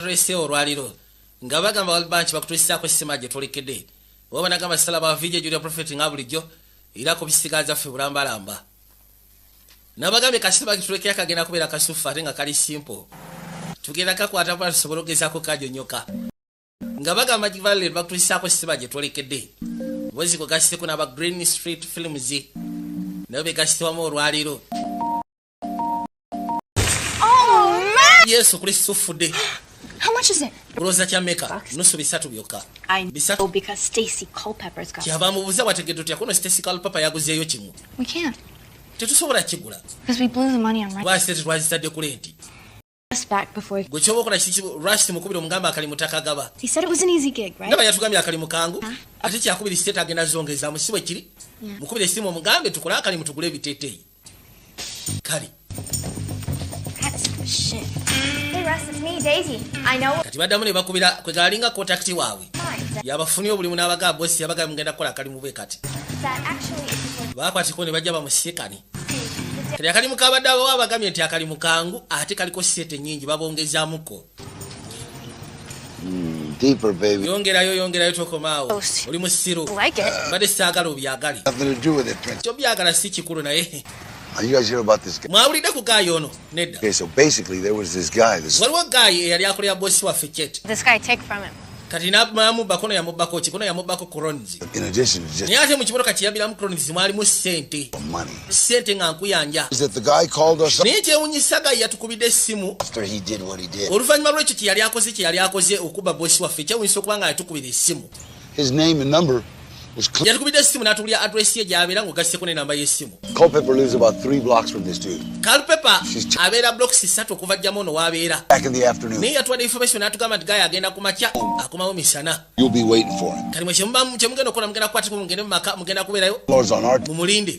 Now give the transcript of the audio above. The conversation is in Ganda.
rsa olwaliro nga bagamba walbanki bakutulisaako esima gye tulekede oba banagamba sala bavije julia profet nga bulijjo era ku bisigaza ffe bulambalamba nabagambye kasima gitulekera kagenda kubeera kasufu ate nga kali simple tugenda kakwata bula tusobola okugezaako kajonyoka nga bagamba givalel bakutulisaako esima gye twolekede bozi kwe gasiteko n'aba green street films nabo be gasitewamu olwaliro yesu kuli suffude kulooza kya meka nusu bisatu byokka kyava mubuza wategedde otya kuno stacy calpapa yaguzeeyo kimu tetusobola kigula kubasite tetwazitadde ku lenti gwe kyoba okola kiki rash mukubira omugamba akalimu takagaba ndaba yatugambye akalimu kangu ah. ate kyakubira ekiteete agenda zongezamu si bwe kiri mukubira esimu omugambe tukole akalimu tugule ebiteeteeyi kale kati baddamu ne bakubira kwe galinga kontakiti waabwe yabafunye obulimu n'abagaa bosi yabagala mugenda kukola akalimu bwe kati baakwatiko ne bajja bamusikane kati akalimu kabadde abawo abagamye nti akalimu kangu ate kaliko sisete nyingi babongezamuko hmm, yongerayo yongerayo tokomaawo oh, oli musiru mbadde saagala obyagale kyobyagala si kikulu naye mwawulidde ku gayi ono nedda waliwo gayi eyali akolera bosi waffe chet kati namubba kono yamubbako ki kono yamubbako crons naye ate mu kimotoka kiyabiramu crons mwalimu sente sente nga nkuyanja naye kyewunyisa gayi yatukubidde essimu oluvannyuma lwekyo kyeyali akoze kyeyali akoze okubba bosi waffe kyewunyisa okuba nga yatukubira essimu yatukubidde essimu n'atubulira adresi ye gy'abeera ng'ogasseko n'enamba y'essimu kalpepa abeera blocks ssatu okuva jjamu ono w'abeera naye yatuwadde information n'atugamba nti gaya agenda ku makya akomawo misana kati mwe kyemugenda okukola mugenda kukwatiko mugende mu maka mugenda kubeerayo mumulinde